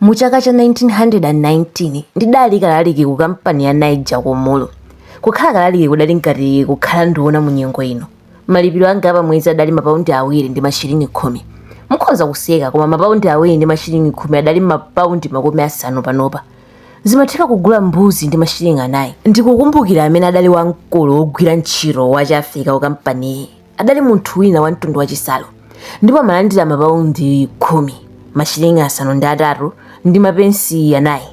Mu chaka cha 1919 ndidali kalaliki ku kampani ya Niger ku Umuru. Kukhala kalaliki kudali ngati kukhala nduna mu nyengo ino. Malipiro anga a pa mwezi adali mapaundi awiri ndi mashilingi khumi. Mukhoza kuseka koma mapaundi awiri ndi mashilingi khumi adali mapaundi makumi asanu panopa. Zimatheka kugula mbuzi ndi mashilingi anayi. Ndikukumbukira amene adali wamkulu wogwira ntchito wa Chiafrika ku kampaniyi. adali munthu wina wa mtundu wachisaro ndipo amalandira mapaundi khumi mashilingi asanu ndi atatu ndi mapensi anayi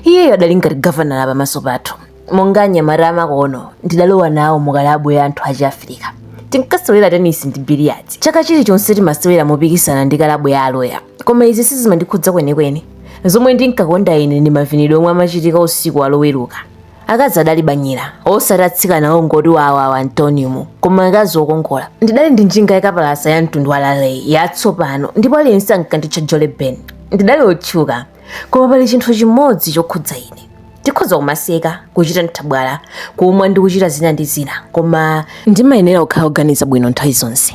iyeyo adali ngati gavanala pamaso pathu monga anyamata amakono ndidalowa nawo mukalabu ya anthu achiafirika tinkasewera tenisi ndi biliyati chaka chilichonse timasewera mopikisana ndi kalabu ya aloya koma izi sizimandikhudza kwenikweni zomwe ndinkakonda ine ndi mavinidwe omwe amachitika usiku waloweruka akazi adali banyira osati atsikana ongoti wawawa a m'taunimu koma akazi okongola ndidali ndi njinga yakapalasa ya mtundu wa laleyi yatsopano ndipo aliyense ankanditcha jole ben ndidali otchuka koma pali chinthu chimodzi chokhudza ine tikhoza kumaseka kuchita nthabwala kumwa ndi kuchita zina ndi zina koma ndimayenera kukhala oganiza bwino nthawi zonse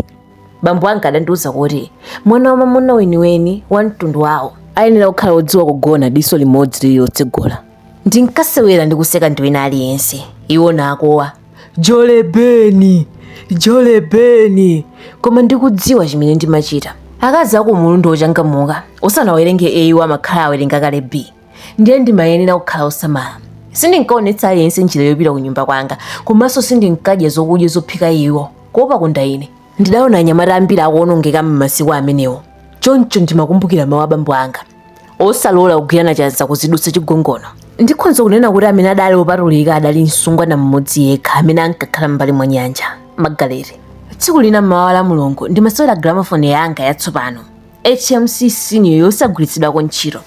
bambo anga adandiuza kuti mwana wa mamuna weniweni wa mtundu wawo ayenera kukhala odziwa kugona diso limodzi lili lotsegula ndinkasewera ndi kuseka ndi wina aliyense iwo nakuwa jolebeni jolebeni koma ndikudziwa chimene ndimachita akazi aku umuru ndi ochangamuka osanawerenge a iwo amakhala awerenga kale b ndiye ndimayenera kukhala osamala sindinkaonetsa aliyense njira yopita ku nyumba kwanga komanso sindinkadya zokudya zophika iwo kuopa kondaine ndidaona anyamata ambiri akuonongeka m'masiku amenewo choncho ndimakumbukira mawu abambo anga osalola kugwirana chanza kuzidutsa chigongono ndikhonza kunena kuti amene adali opatulika adali msungwana mmodzi yekha amene ankakhala m'mbali mwa nyanja magaleti tsiku lina mmawa lamulungu ndimasewera gramafoni yanga yatsopano hmc senior yosagwiritsidwako ntchito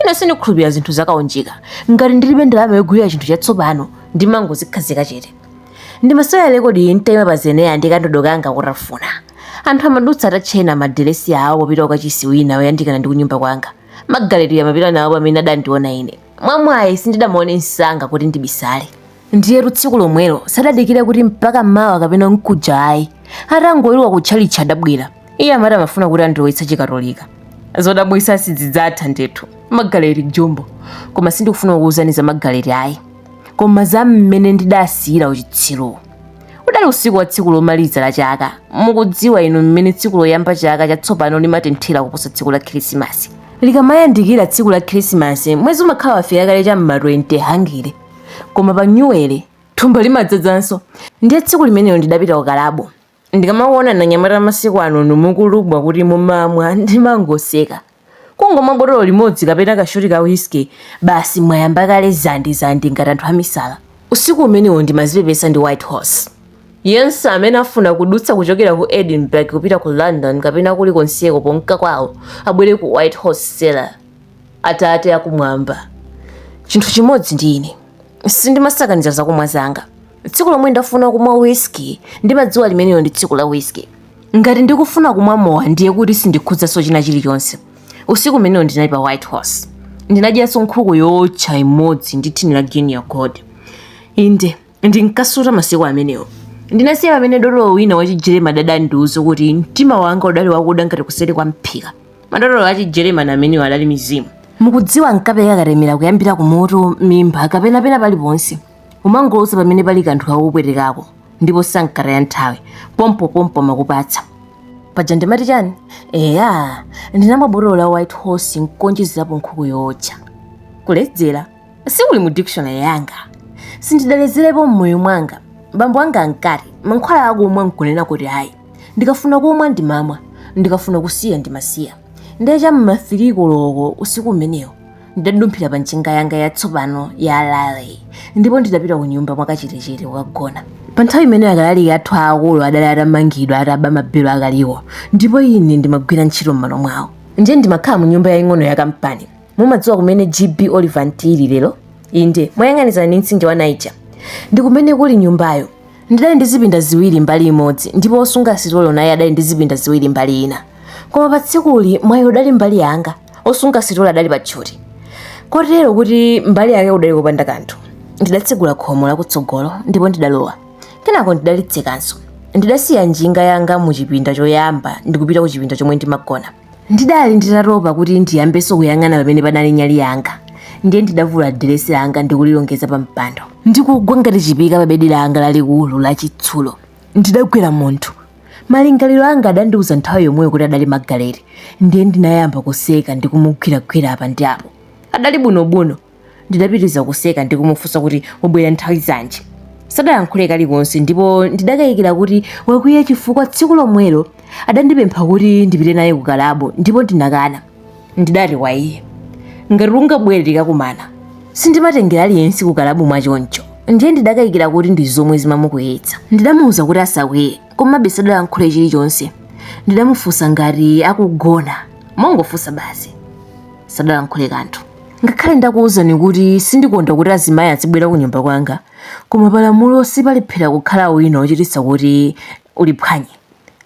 ine sindikhulupirira zinthu zakaunjika ngati ndilibe ndalama yogulira chinthu chatsopano ndimangozikhazika chete ndimasewera lekodi ntayima pa zenera ndi kandodo kanga kutafuna anthu amadutsa atatchena madiresi awo popita ku kachisi wina oyandikana ndi kunyumba kwanga magaleti amapita nawo pamene adandiona ine mwamwayi sindidamuone msanga kuti ndibisale ndiyetu tsiku lomwelo sadadikire kuti mpaka mawa kapena mkuja ayi atangoweruka kutchalitchi adabwera iye amati amafuna kuti andilowetse chikatolika zodabwitsa sizidzatha ndithu magaleti jumbo koma sindikufuna kukuwuzani za magaleti ayi koma za mmene ndidasiyira uchitsiruwo udali usiku wa tsiku lomaliza la chaka mukudziwa inu mmene tsiku loyamba chaka chatsopano limatenthera kuposa tsiku la khirisimasi likamayandikira tsiku la khirisimasi mwezi umakhala wafika kale cha mma 20 hungry koma pa nyuwere thumba limadzadzanso ndiye tsiku limenelo ndidapita ku kalabu Ndikamakuonani anyamata amasiku anonu mukulubwa kuti mumamwa ndimangoseka. Kungomwa botolo limodzi kapena ka shoti ka whiskey, basi mwayamba kale dzandi dzandi ngati anthu amisala. Usiku umenewo ndimazipepesa ndi White Horse. Yense amene afuna kudutsa kuchokera ku Edinburgh kupita ku London kapena kulikonseko ponka kwawo abwere ku White Horse Cellar. Atate Akumwamba, chinthu chimodzi ndi ine, sindimasakaniza zakumwa zanga. tsiku lomwe ndafuna kumwa whisky ndimadziwa limenelo ndi tsiku la whisky ngati ndikufuna kumwa mowa ndiye kuti sindikhudzanso china chilichonse usiku umenewo ndinali pa white horse ndinadyanso nkhuku yootcha imodzi ndi thini la guinea gold inde ndinkasuta masiku amenewo ndinasiya pamene dotolo wina wachijeremani adandiuza kuti mtima wanga udali wakuda ngati kuseri kwa mphika madotolo achijeremani amenewo adali mizimu mukudziwa ankapereka katemera kuyambira ku mutu mimba kapena pena paliponse Umangoloza pamene pali kanthu kakupwetekako ndipo sankataya nthawi pompopompo amakupatsa. Paja ndimati chani? Eya, ndinamwa botolo la White Horse nkuonjezerapo nkhuku yootcha. Kuledzera sikuli mu dictionary yanga. Sindidaledzerepo m'moyo mwanga. Bambo anga ankati mankhwala akumwa nkunena kuti ayi. Ndikafuna kumwa ndimamwa, ndikafuna kusiya ndimasiya. Ndiye cha m'ma 3 koloko usiku umenewo ndidadumphira pa njinga yanga yatsopano ya raleigh ndipo ndidapita ku nyumba mwakachetechete kukagona pa nthawi imeneyo akalaliki athu aakulu adali atamangidwa ataba mabelo akaliwo ndipo ine ndimagwira ntchito m'malo mwawo ndiye ndimakhala mu nyumba yaying'ono ya kampani mumadziwa kumene gb olivant ili lero inde moyang'anizana ndi mtsinje wa niger ndi kumene kuli nyumbayo ndidali ndi zipinda ziwiri mbali imodzi ndipo wosunga sitolo naye adali ndi zipinda ziwiri mbali ina koma pa tsikuli mwayi udali mbali yanga osunga sitolo adali pa tchuti kotero kuti mbali yake kudali kopanda kanthu ndidatsegula khomo lakutsogolo ndipo ndidalowa kenako ndidalitsekanso ndidasiya njinga yanga mu chipinda choyamba ndikupita ku chipinda chomwe ndimagona ndidali nditatopa kuti ndiyambenso kuyang'ana pamene panali nyali yanga ndiye ndidavula diresi langa ndikulilongeza pa mpando ndikugwa ngati chipika pa bedi langa lalikulu lachitsulo ndidagwera munthu malingaliro anga adandiuza nthawi yomweyo kuti adali magaleti ndiye ndinayamba kuseka ndi kumugwiragwira apa ndi apo adali bunobuno ndidapitiriza kuseka ndi kumufunsa kuti wabwera nthawi zanji sadayankhule kalikonse ndipo ndidakayikira kuti wakwiya chifukwa tsiku lomwelo adandipempha kuti ndipite naye ku kalabo ndipo ndinakana ndidati kwa iye ngati ungabwere tikakumana sindimatengera aliyense kukalabu mwa choncho ndiye ndidakayikira kuti ndi zomwe zimamukwiyitsa ndidamuwuza kuti asakwiye komabe sadalankhule chilichonse ndidamufunsa ngati akugona mongofunsa basi sadalankhule kanthu ngakhale ndakuwuzani kuti sindikonda kuti azimayi azibwera ku nyumba kwanga koma palamulo sipalephera kukhala wina wochititsa kuti uliphwanye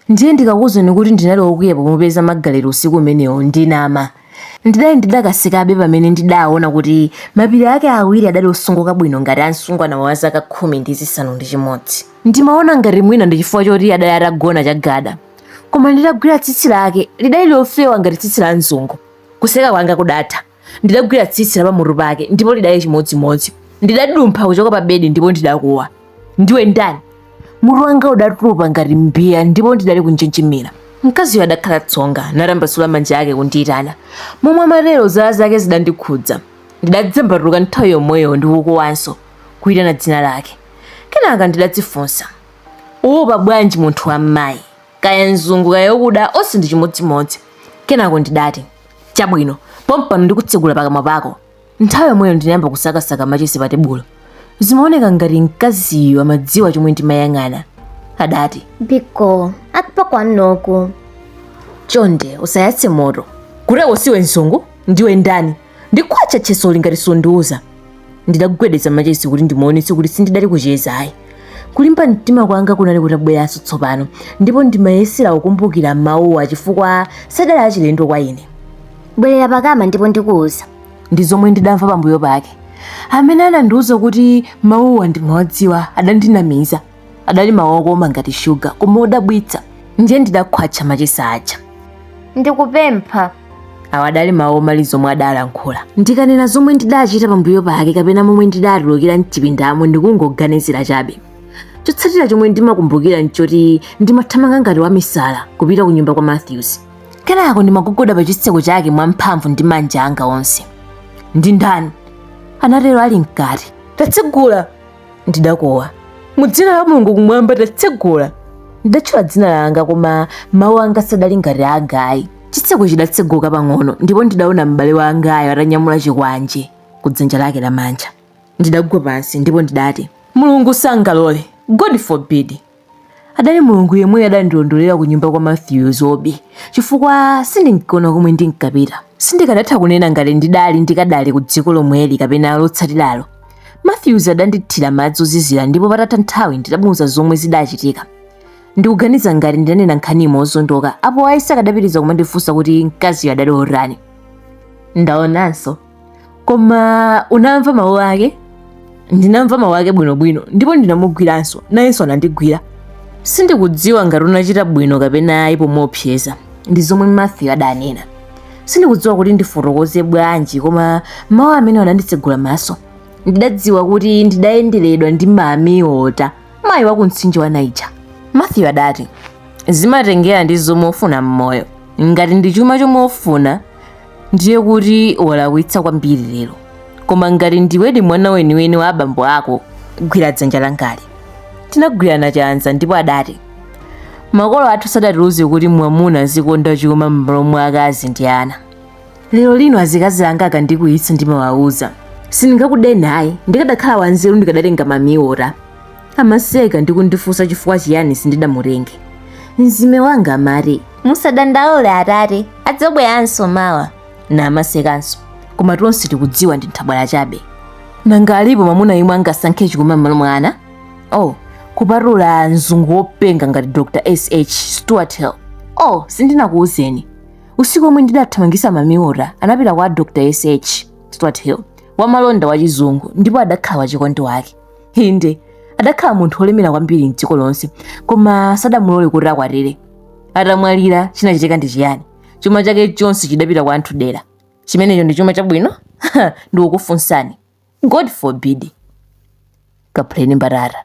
Ndiye ndikakuuzani kuti ndinali wokwiya pomupeza Margaret usiku umenewo, ndinama. Ndidali ndidakasekabe pamene ndidaona kuti mapiri ake awiri adali osungika bwino ngati a msungwana wa zaka khumi ndi zisanu ndi chimodzi. Ndimaona ngati mwina ndi chifukwa choti adali atagona chagada. Koma nditagwira tsitsi lake, lidali lofewa ngati tsitsi la mzungu. Kuseka kwanga kudatha. ndidagwira tsitsi la pamutu pake ndipo lidali chimodzimodzi ndidadumpha kuchoka pa bedi ndipo ndidakuwa ndiwe ndani mutu wanga udatupa ngati mbiya ndipo ndidali kunjenjemera mkaziyo adakhala tsonga natambasula manja ake kundiyitana momwe amatero zala zake zidandikhudza ndidadzembatuka nthawi yomweyo ndikukuwanso kuyitana dzina lake kenaka ndidadzifunsa uwopa bwanji munthu wa mmayi kaya mzungu kaya wakuda onse ndi chimodzimodzi kenako ndidati chabwino pompano ndikutsegula pakamwa pako nthawi yomweyo ndinayamba kusakasaka machesi pa tebulo zimaoneka ngati mkaziyo amadziwa chomwe ndimayang'ana adati biko akpakwana oku chonde usayatse moto kuteroko siwe mzungu ndiwe ndani ndikhwatcha chesoli ngati sundiuza ndidagwedeza machesi kuti ndimuonetse kuti sindidali kucheza ayi kulimba mtima kwanga kunali kutabweranso tsopano ndipo ndimayesera kukumbukira mawuwa chifukwa sadali achilendo kwa ine bwerera pakama ndipo ndikuuza ndi zomwe ndidamva pambuyo pake amene anandiuza kuti mawuwa ndimawadziwa adandinamiza adali mawu okoma ngati shuga koma odabwitsa ndiye ndidakhwatcha machesi aja ndikupempha awa adali mawu omaliza omwe adalankhula ndikanena zomwe ndidachita pambuyo pake kapena momwe ndidatulukira mchipindamo ndikungoganizira chabe chotsatira chomwe ndimakumbukira nchoti ndimathamanga ngati wamisala kupita ku nyumba kwa matthews kenako ndimagogoda pa chitseko chake mwamphamvu ndi manja anga onse ndi ndani anatero ali mkati tatsegula ndidakuwa mu dzina la mulungu kumwamba tatsegula ndidatchula dzina langa koma mawu anga sadali ngati anga ayi chitseko chidatseguka pang'ono ndipo ndidaona m'bale wangayo atanyamula chikwanje ku dzanja lake lamanja ndidagwa pansi ndipo ndidati mulungu sangalole god forbid Adali Mulungu yemweyo adandilondolera kunyumba kwa Mathews Obi chifukwa sindinkaona komwe ndinkapita. Sindikanatha kunena ngati ndidali ndikadali kudziko lomweli kapena lotsatiralo. Mathews adandithira madzi ozizira ndipo patatha nthawi ndidamuuza zomwe zidachitika. Ndikuganiza ngati ndidanena nkhani mozondoka, apo ayi sakadapitiriza kumandifunsa kuti mkaziyo adali wotani. Ndaonanso. koma unamva mawu ake ndinamva mawu ake bwinobwino ndipo ndinamugwiranso nayenso anandigwira sindikudziwa ngati unachita bwino kapena ayi pomuopseza ndi zomwe matthew adanena sindikudziwa kuti ndifotokoze bwanji koma mawu amene ananditsegula maso ndidadziwa kuti ndidayenderedwa ndi mami wota mayi wa kumtsinje wa niger matthew adati zimatengera ndi zomwe ufuna m'moyo ngati ndi chuma chomwe ufuna ndiye kuti walakwitsa kwambiri lero koma ngati ndiwedi mwana weniweni wa abambo ako gwira dzanja langali tinagwirana chanza ndipo adati makolo athu sadatiuze kuti mwamuna azikonda chuma m'malo mwa akazi ndi ana lero lino azikazi anga akandikwiyitsa ndimawauza sindingakudeni ayi ndikadakhala wanzeru ndikadatenga mami wota amaseka ndi kundifunsa chifukwa chiyani sindidamutenge mzime wanga amati musadandaule atate adzabweranso mawa namasekanso koma tonse tikudziwa ndi nthabwala chabe nanga alipo mwamuna yemwe angasankhe chuma m'malo mwa ana oh kupatula mzungu wopenga ngati dr sh stuart hill oh sindinakuwuzeni usiku omwe ndidathamangisa mami wota anapita kwa dr sh stuart hill wamalonda wachizungu ndipo adakhala wachikondi wake inde adakhala munthu wolemera kwambiri mdziko lonse koma sadamulole kuti akwatire atamwalira chinachitika ndi chiyani chuma chake chonse chidapita kwa anthu adera chimenecho ndi chuma chabwino ndikukufunsani god forbid kaphuleni mbatata